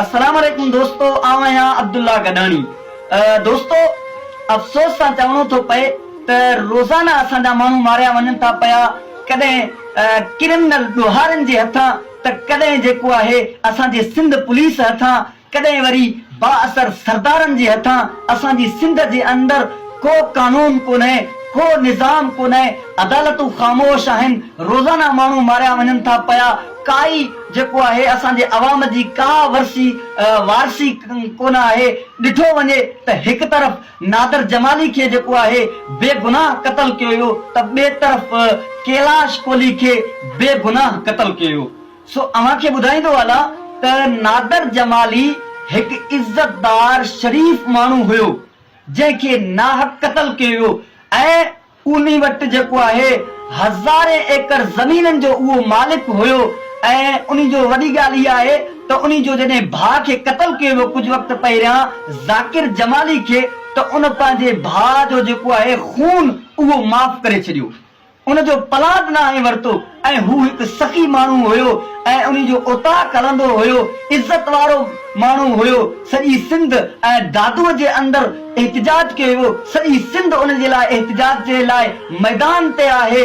السلام عليڪم دوستو آئون آهيان عبدالله گڏاڻي دوستو افسوس سان چوڻو ٿو پئي ته روزانه اسان جا ماڻهو ماريا وڃن ٿا پيا ڪڏهن ڪرمنل ڏوهارين جي هٿان ته ڪڏهن جيڪو آهي اسان جي سنڌ پوليس هٿان ڪڏهن وري بااثر سردارن جي هٿان اسان جي سنڌ جي اندر ڪو قانون ڪونهي ڪو نظام ڪونهي عدالتون خاموش آهن روزانه ماڻهو ماريا وڃن ٿا پيا ڪائي جيڪو آهي اسان جي عوام جي ڪا ورسي وارسي ڪونه آهي ڏٺو وڃي ته هڪ طرف نادر جمالي کي جيڪو آهي بي گناهه قتل ڪيو ويو ته ٻي طرف ڪيلاش ڪولهي کي بي گناهه قتل ڪيو ويو سو اوهان کي ٻڌائيندو هلا ته نادر جمالي هڪ عزت دار شريف ماڻهو هيو جنهن کي ناحق قتل ڪيو ويو ۽ اومي وٽ جيڪو آهي هزارين ايڪڙ زمينن جو اهو مالڪ هيو ۽ انهي جو وڏي ڳالهه اها آهي ته انهي جو جڏهن ڀاء کي قتل ڪيو ويو ڪجهه وقت پهريان ذاڪر جمالي کي ته ان پنهنجي ڀاء جو جيڪو آهي خون اهو معاف ڪري ڇڏيو ان جو پلاٽ ناهي ورتو ۽ هو هڪ سخي ماڻهو هيو ۽ انهي جو اوطاق هلندو هيو، عزت وارو ماڻهو هيو، سڄي سنڌ ۽ دادوء جي اندر احتجاج ڪيو ويو، سڄي سنڌ ان جي لاء احتجاج جي لاء ميدان تي آهي،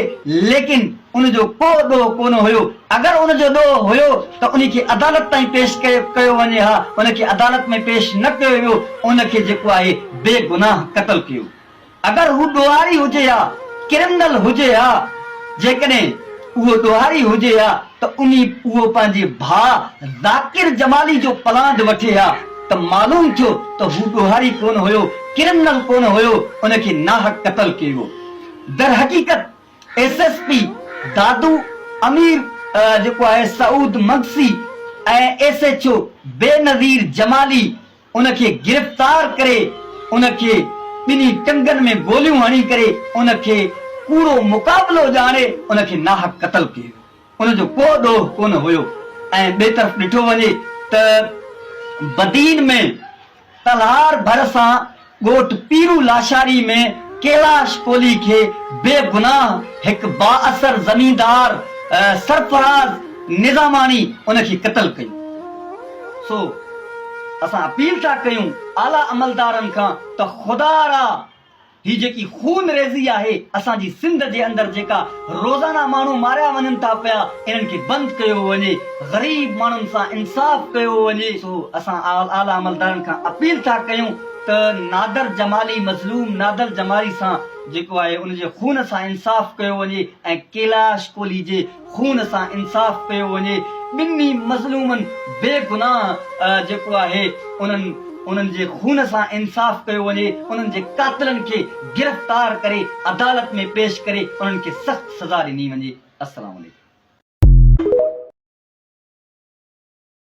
ليڪن ان جو ڪو ڏوهه ڪونه هيو، اگر ان جو ڏوهه هيو ته انهي کي عدالت تائين پيش ڪيو وڃي ها، ان کي عدالت ۾ پيش نه ڪيو ويو، ان کي جيڪو آهي بي گناهه قتل ڪيو. اگر هو ڏوهاري هجي ها، ڪرمنل هجي ها، جيڪڏهن اهو ڏوهاري هجي ها ته انهي اهو پنهنجي ڀاء ذاڪر جمالي جو پلاند وٺي ها ته معلوم ٿيو ته هو ڏوهاري ڪونه هيو، ڪرمنل ڪونه هيو، ان کي ناحق قتل ڪيو. درحقيقت S S P Dadu Amir جيڪو آهي Saud Magsi ۽ S H O Benazir Jamali ان کي گرفتار ڪري ان کي ٻنهي ٽنگن ۾ گوليون هڻي ڪري ان کي ڪوڙو مقابلو ڄاڻي ان کي ناحق قتل ڪيو ويو ان جو ڪو ڏوهه ڪونه هيو ۽ ٻئي طرف ڏٺو وڃي ته بدين ۾ تلهار ڀرسان ڳوٺ پيرو لاشاري ۾ ڪيلاش ڪولهي کي بي گناهه هڪ بااثر زميندار سرفراز نظاماڻي ان کي قتل ڪيو. سو اسان اپيل ٿا ڪيون اعليٰ عملدارن کان ته خدا را هي جيڪي خون ريزي آهي اسان جي سنڌ جي اندر جيڪا روزانه ماڻهو ماريا وڃن ٿا پيا انهن کي بند ڪيو وڃي غريب ماڻهن سان انصاف ڪيو وڃي سو اسان اعليٰ عملدارن کان اپيل ٿا ڪيون ته نادر جمالي مظلوم نادر جمالي سان جيڪو آهي ان جي خون سان انصاف ڪيو وڃي ۽ ڪيلاش ڪولهي جي خون سان انصاف ڪيو وڃي ٻنهي مظلومن بي گناهه جيڪو آهي انهن انهن جي خون سان انصاف ڪيو وڃي انهن جي قاتلن کي گرفتار ڪري عدالت ۾ پيش ڪري انهن کي سخت سزا ڏني وڃي السلام عليڪم.